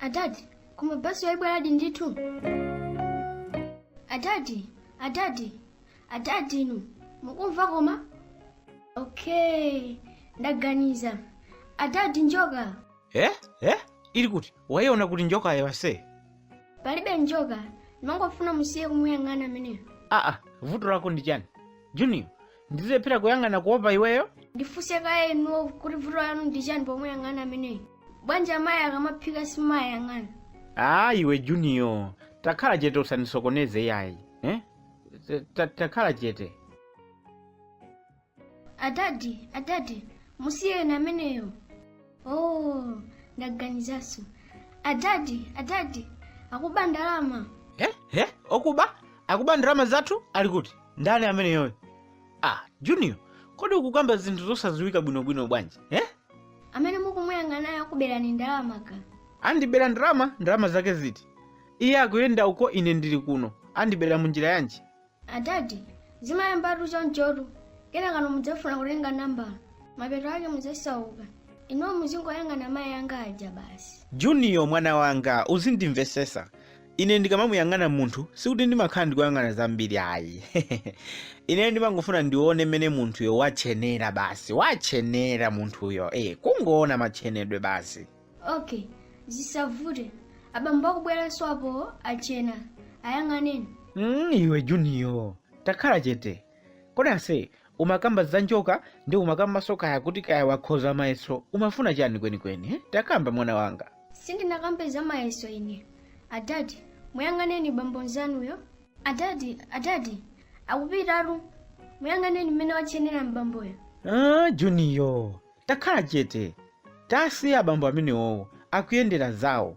adadi koma basi yoyi ibweradi ndithu adadi adadi adadi inu mukumva koma okay ndaganiza adadi njoka eh eh ili kuti wayiona kuti njokayo ase palibe njoka ndimangofuna musiye kumuyang'ana ameneyo aa vuto lako ndi chani junior ndizilephera kuyang'ana kuopa iweyo ndifunse kaye inuwo kuti vuto lanu ndi chani pomuyang'ana ameneyo bwanji amayi akamaphika simuwayang'ana aa iwe junior takhala chete usanisokoneze yayi eh? Ta- ta- takhala chete adadi adadi musiyeni ameneyo oh ndaganizanso adadi adadi akuba ndalama eh? eh? okuba akuba ndalama zathu ali kuti ndani ameneyoyo ah junior kodi ukukamba zinthu zosadziwika bwinobwino bwanji eh? amene mukumuyang'anayo akuberani ndalama ka andibera ndalama ndalama zake ziti iye akuyenda uko ine ndili kuno andiberera munjira yanji adadi zimayambatu chonchotu kenakano mudzafuna kutenga nambala mapeto ake mudzasauka inuwo muzingoyang'ana mayi anga aja basi junior mwana wanga uzindimvesesa ine ndikamamuyang'ana munthu sikuti ndimakhala ndikuyang'ana zambiri ayi ine ndimangofuna ndione mmene munthuyo watchenera basi watchenera munthuyo eh kungoona matchenedwe basi okay zisavute abambo akubweranso apo atchena ayang'aneni mm, iwe juniyo takhala chete kodi ase umakamba za njoka ndi umakambanso kaya kuti kaya wakhoza mayeso umafuna chani kwenikweni eh? takamba mwana wanga sindinakambe za mayeso ine adadi muyang'aneni mbambo mzanuyo adadi adadi akupitatu muyang'aneni mmene watchenera mbamboyo ah, juniyo takhala chete tasiya abambo amenewowo akuyendera zawo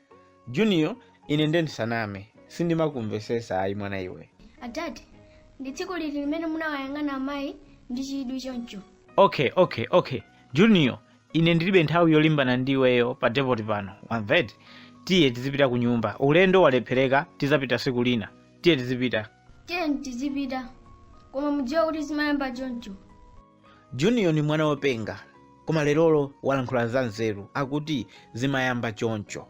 junior ine nde ndisaname sindimakumvesesa ayi mwana iwe adadi ndi tsiku liti limene munawayang'ana amayi ndi chidwi choncho okay okay okay junior ine ndilibe nthawi yolimbana ndi iweyo pa depoti pano wamveti tiye tizipita ku nyumba ulendo walephereka tizapita siku lina tiye tizipita tiyeni tizipita koma mudziwe kuti zimayamba choncho Juniyo ni mwana wopenga, koma lerolo walankhula za nzeru. Akuti zimayamba choncho.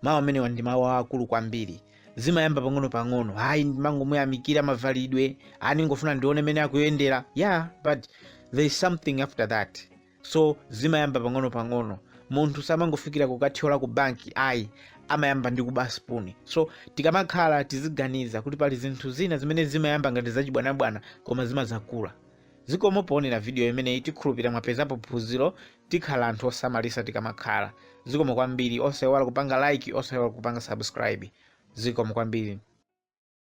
Mawu amenewa ndi mawu aakulu kwambiri. Zimayamba pang'ono-pang'ono. Ayi, ndimangomuyamikira mavalidwe. Ayi ndingofuna ndione mene akuyendera. Yeah, but there is something after that. So zimayamba pang'ono-pang'ono. Munthu samangofikira kukathyola ku banki ayi amayamba ndi kuba spoon. So tikamakhala tiziganiza kuti pali zinthu zina zimene zimayamba ngati zachibwanabwana koma zimazakula. Zikomo poonera video imeneyi tikhulupirira mwapezapo phunziro tikhale anthu osamalisa tikamakhala zikomo kwambiri osaiwala kupanga like osaiwala kupanga subscribe zikomo kwambiri.